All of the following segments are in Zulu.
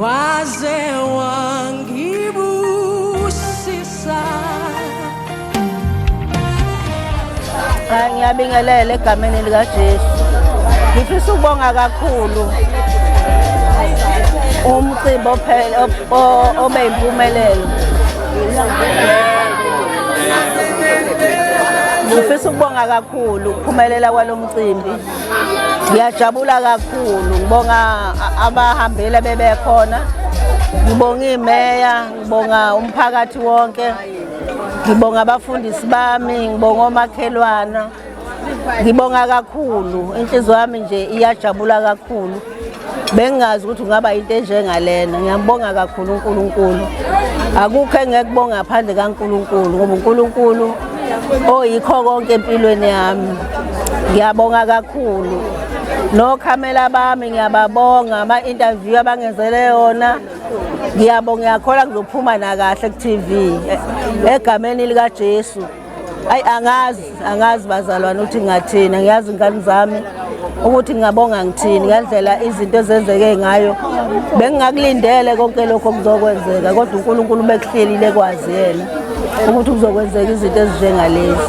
waze wangibusisa ngiyabingelela egameni likajesu ngifisa ukubonga kakhulu umcimbi obe yimpumelelo ngifisa ukubonga kakhulu ukuphumelela kwalo mcimbi ngiyajabula kakhulu ngibonga abahambile bebekhona ngibonga imeya ngibonga umphakathi wonke ngibonga abafundisi bami ngibonga omakhelwana ngibonga kakhulu inhliziyo yami nje iyajabula kakhulu bengingazi ukuthi kungaba into enjengalena ngiyambonga kakhulu uNkulunkulu akukho engekubonga ngaphandle kaNkulunkulu ngoba uNkulunkulu oyikho konke empilweni yami ngiyabonga kakhulu nokhamela bami ngiyababonga ama-interview abangenzele yona ngiyabonga ngiyakhola ngizophuma nakahle ku-tv egameni likajesu Ayi angazi angazi bazalwane ukuthi ngathina ngiyazi ingane zami ukuthi ngingabonga ngithini ngandlela izinto ezenzeke ngayo bengingakulindele konke lokho kuzokwenzeka kodwa uNkulunkulu bekuhlelile kwazi yena ukuthi kuzokwenzeka izinto ezinjengalezi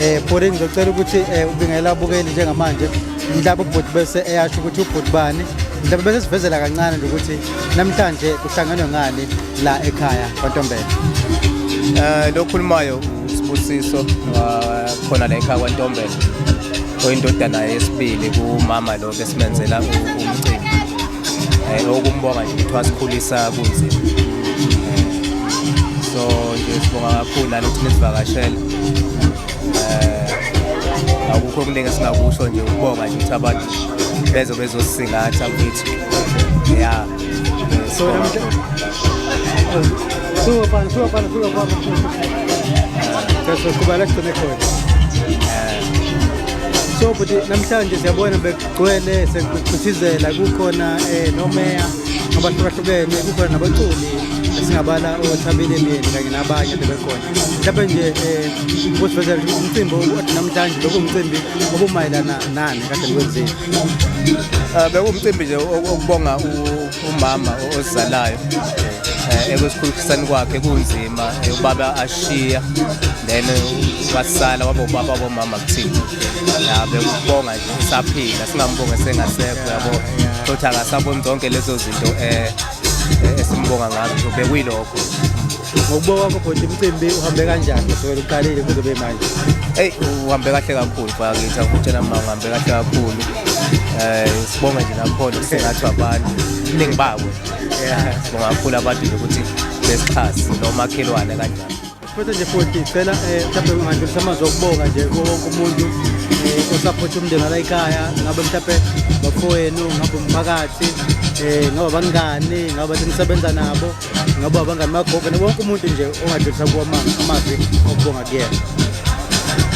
eh bhuti ngizocela ukuthi eh, ubingela abukeli njengamanje mhlawumbe ubhuti bese eyasho ukuthi ubhuti bani mhlawumbe bese sivezela kancane nje ukuthi namhlanje kuhlangenwe ngani la ekhaya kwantombela eh lokhulumayo sibusiso khona la ekhaya kwantombela oyindodana yesibili kumama lo besimenzela umcimbi eh okumbonga nje ukuthi wasikhulisa kunzima eh, so nje sibonga kakhulu nalo ukuthi nisivakashele eh, akukho okuningi esingakusho nje ukubonga nje ukuthi abantu bezo bezosingatha kwethu ya so Suba pan, suba pan, suba pan. That's what I'm going to so bhuti namhlanje siyabona bekugcwele sekuchithizela kukhona um nomeya abahlukahlukene kukhona nabaculi esingabala othabile myeni kanye nabanye bebekhona mhlawumbe nje um kusivezela ukuthi umcimbi othi namhlanje bekuwumcimbi obumayelana nani kade niwenzile um bekuwumcimbi nje okubonga umama ozizalayo um ekusikhulukisani kwakhe kunzima ubaba ashiya then wasala waba ubaba bomama kuthina ya bekubonga nje usaphila singambonga esengasekho yabo futhi akasaboni zonke lezo zinto um esimbonga ngazo bekuyilokho ngokubuka kwakho bhuti umcimbi uhambe kanjani kusukela uqalile kuze kube manje eyi uhambe kahle kakhulu bakithi akutshela mma uhambe kahle kakhulu um eh, sibonge nje nakhona kusengathi abantu iningi babo sibonga kakhulu abantu nje ukuthi besixhasi nomakhelwane kanjani futhi nje futhi cela um eh, mhlawumbe ungandlulisa amazwi okubonga nje kuwo wonke umuntu um osaphotha umndeni wala ikhaya ngabe mhlawumbe bafowenu ngabe umphakathi um ngabe abangani ngabe bathi nisebenza nabo ngoba abangani bagogo nabonke umuntu nje ongadlulisa kuwo amavi okubonga kuyena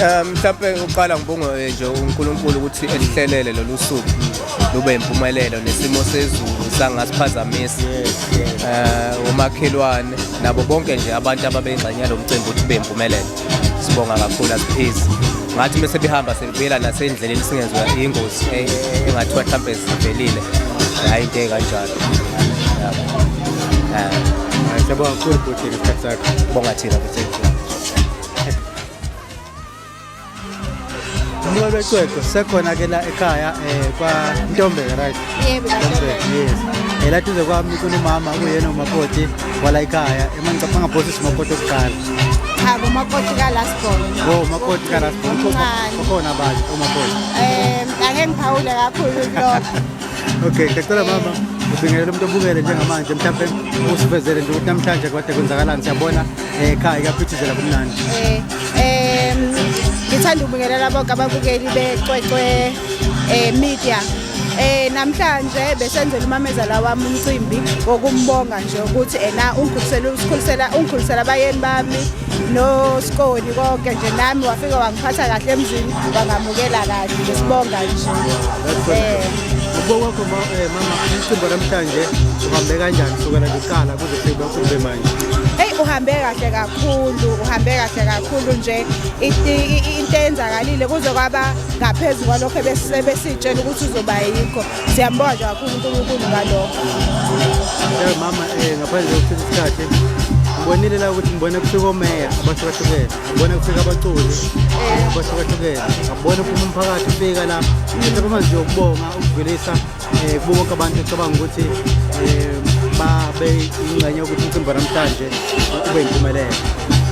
um mhlawumpe uqala ngibonge eh, nje unkulunkulu ukuthi elihlelele lolu suku lube impumelelo nesimo sezulu sangasiphazamisi um umakhelwane nabo bonke nje abantu ababeyingxenye yalo mcimbi ukuthi ube impumelelo sibonga kakhulu asiphezi ngathi uma sebehamba sebuyela nasendleleni singenziwa ingozi eh, engathiwa mhlawumpe sivelile hhayi into ekanjalo Siyabonga kakhulu bhuti ngesikhathi sakho. Bonga thina bhuti. Umnqwebe ecwecwe sekhona ke la ekhaya eh kwa Ntombela right? Yebo. Yes. Ela tuze kwami kunomama uyena umakoti wala ekhaya emangicaphanga ngaphosi simakoti okuqala. Cha umakoti ka last born. Oh umakoti ka last born. Ukhona bazi umakoti. Eh angeke ngiphawule kakhulu kulokho. Okay, ngicela mama ubingelela umuntu obukele njengamanje mhlawumbe usivezele nje ukuthi namhlanje kade kwenzakalani siyabona eh, ekhaya kuyaphithizela kumnandi. Eh, eh, ngithanda ukubingelela bonke ababukeli becwecwe eh media. Eh namhlanje besenzela umamezala wami umcimbi wokumbonga nje ukuthi ena ungikhulisela usikhulisela ungikhulisela abayeni bami no Skoni konke nje nami wafika wangiphatha kahle emzini bangamukela kahle nje sibonga nje eh Ubo wakho eh, mama umcimbi namhlanje uhambe kanjani kusukela kuqala kuze sebe kumbe manje Hey uhambe kahle kakhulu uhambe kahle kakhulu nje into eyenzakalile kuze kwaba ngaphezulu kwalokho ebesitshela ukuthi uzoba yikho siyambonga nje kakhulu uNkulunkulu ngalokho Eh mama eh ngaphandle kokuthi isikhathi ngibonile la ukuthi ngibona kufika omeya abahlukahlukene ngibona kufika abaculi abahlukahlukene ngabona uphuma umphakathi ufika la ngithatha amanzi yokubonga ukugwilisa um kubo bonke abantu ecabanga ukuthi um babe ingxenye yokuthi umcimbi namhlanje ube yimpumelelo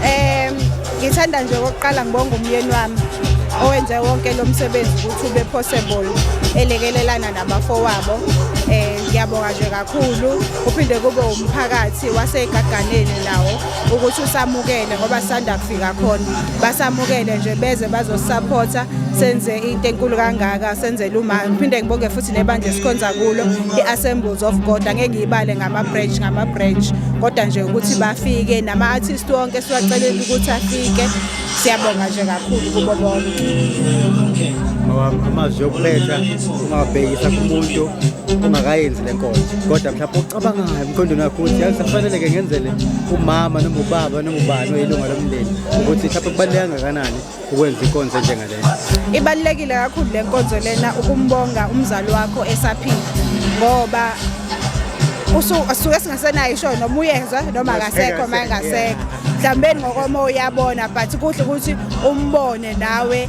um ngithanda nje okokuqala ngibonga umyeni wami owenze wonke lo msebenzi ukuthi ube possible elekelelana nabafowabo um ngiyabonga nje kakhulu uphinde kube umphakathi wasegaganeni nawo ukuthi usamukele ngoba sanda kufika khona basamukele nje beze bazosupporta senze into enkulu kangaka senzele uma phinde ngibonge futhi nebandla esikhonza kulo iAssembles of God angeke ngiyibale ngama branch ngama branch kodwa nje ukuthi bafike nama artist wonke siwacelela ukuthi afike siyabonga nje kakhulu kubo bonke amazwi okuletha ungabhekisa kumuntu ungakayenzi le nkonzo kodwa mhlawumbe ocabangayo emqondweni wakho ukuthi yazi safaneleke ngenzele umama noma ubaba noma ubani oyilunga lomndeni ukuthi mhlawumbe kubaluleke kangakanani ukwenza inkonzo enjengalena ibalulekile kakhulu le nkonzo lena ukumbonga umzali wakho esaphila ngoba usuke singasenayo isho noma uyezwa noma akasekho uma engasekho mhlawumbe ngokomoya uyabona but kuhle ukuthi umbone nawe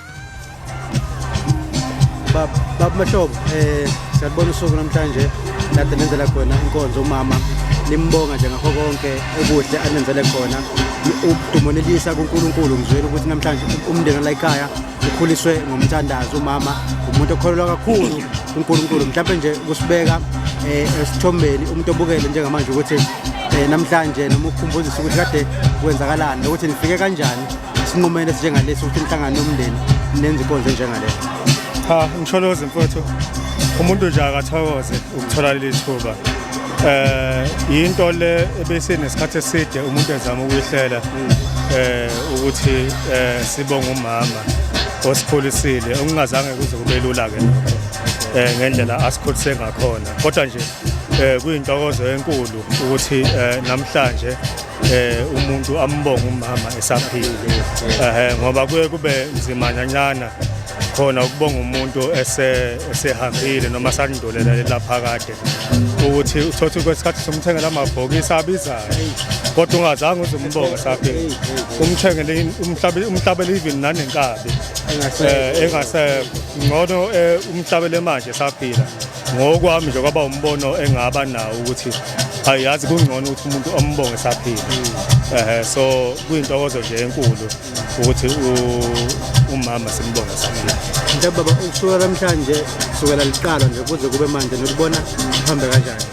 baba mahlobo eh siyabona usuku namhlanje kade nenzela khona inkonzo umama limbonga nje ngakho konke okuhle anenzele khona umonelisa kuNkulunkulu ngizwela ukuthi namhlanje umndeni la ekhaya ukhuliswe ngomthandazo umama umuntu okholelwa kakhulu kuNkulunkulu mhlawumbe nje kusibeka eh, esithombeni umuntu obukele njengamanje ukuthi eh, namhlanje noma ukukhumbuzisa ukuthi kade kwenzakalani nokuthi nifike kanjani isinqumelo esinjengalesi ukuthi inhlangano yomndeni nenze inkonzo enjengaleyo cha ngisholozi mfowethu umuntu nje akathokoze ukuthola leli thuba eh into le ebesinesikhathi eside umuntu ezama ukuyihlela eh ukuthi eh sibonga umama osikhulisile okungazange kuze kube lula ke eh ngendlela asikhulise ngakhona kodwa nje eh kuyintokozo enkulu ukuthi eh namhlanje eh umuntu ambonga umama esaphile eh ngoba kuye kube nzima nyancana khona ukubonga umuntu ese esehambile noma sakundolela lapha kade ukuthi uthothi kwesikhathi somthengela amabhokisi abizayo kodwa ungazange uzumbonge saphile umthengele umhlabe umhlabele even nanenkabi engasekho eh, ngcono eh, umhlabele manje saphila Ngokwami nje kwaba umbono engaba nawo ukuthi ayazi kungcono ukuthi umuntu ombonge esaphila ehe so kuyintokozo nje enkulu ukuthi umama simbonge esaphila nje baba ukusukela namhlanje kusukela liqala nje kuze kube manje nokubona kuhambe kanjani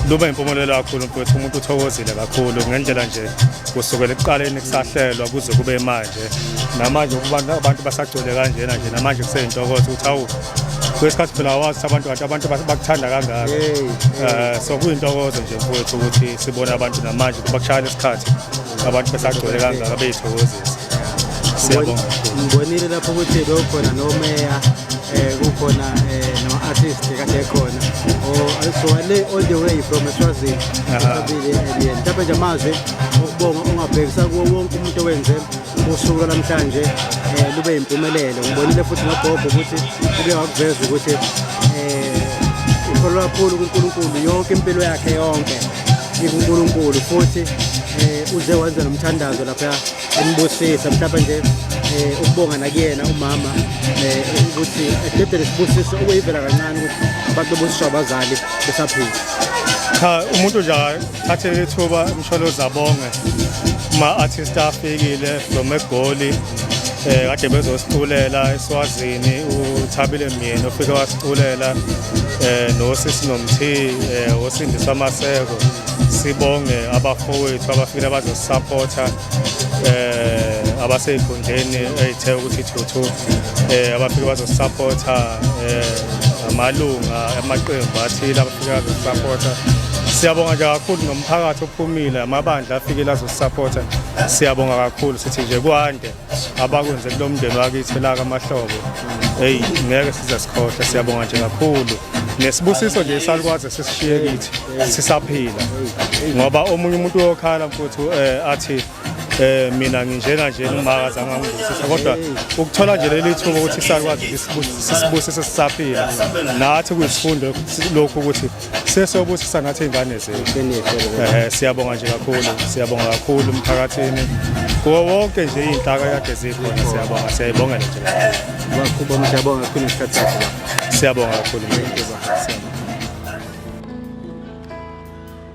luba impumelelo kakhulu mfowethu umuntu uthokozile kakhulu ngendlela nje kusukela ekuqaleni kusahlelwa kuze kube manje namanje abantu basagcwele kanjena nje namanje kuseyintokozo ukuthi awu kwesikhathi phela awazi abantu kanti abantu bakuthanda kangaka eh, so kuyintokozo nje mfowethu ukuthi sibone abantu namanje kuba kushaya lesikhathi abantu besagcwele kangaka beyithokozisa siyabonga ngibonile lapho ukuthi bewukhona nomeya eh, kukhona eh, nama-artist kade ekhona owale all the way from eswazini abile mhlawumbe nje amazwi okubonga ungabhekisa kuwo wonke umuntu owenze usuku lwanamhlanje um lube yimpumelelo ngibonile futhi nogogo ukuthi uke wakuveza ukuthi um ikholwa kakhulu kunkulunkulu yonke impilo yakhe yonke ikunkulunkulu futhi um uze wenze nomthandazo lapha embusisa mhlawumbe nje um ukubonga nakuyena umama um ukuthi ededele sibusiso ukuyivela kancane ukuthi abantu bebusisho abazali besaphila cha umuntu nje Thathe ithuba Msholozi abonge ma-artist afikile from egoli eh kade bezosiculela eSwazini uThabile Myeni ofike wasiculela eh nosisi nomthi eh osindisa amaseko sibonge abafowethu abafile bazosupporta eh abaseyigundeni eyithe ukuthi thuthu eh abafike bazosupporta eh amalunga amaqembu athile Ngiyazisapota. Siyabonga nje kakhulu nomphakathi ophumile amabandla afikile azosisapota. Siyabonga kakhulu sithi nje kwande abakwenze kulomndeni wakithi la kamahlobo. Hey ngeke size sikhohle siyabonga nje kakhulu. Nesibusiso nje salukwaze sisishiye kithi sisaphila. Ngoba omunye umuntu uyokhala mfuthu eh athi eh mina nginjena nje umaka zama ngibusisa kodwa ukuthola nje leli thuba ukuthi sakwazi sisibusise sisaphile nathi kuyisifundo lokhu ukuthi sesobusisa nathi izingane zethu eh siyabonga nje kakhulu siyabonga kakhulu umphakathini kuwo wonke nje izinhlaka yakhe zikhona siyabonga siyayibongela nje kakhulu bakho siyabonga kakhulu isikhathi sakho siyabonga kakhulu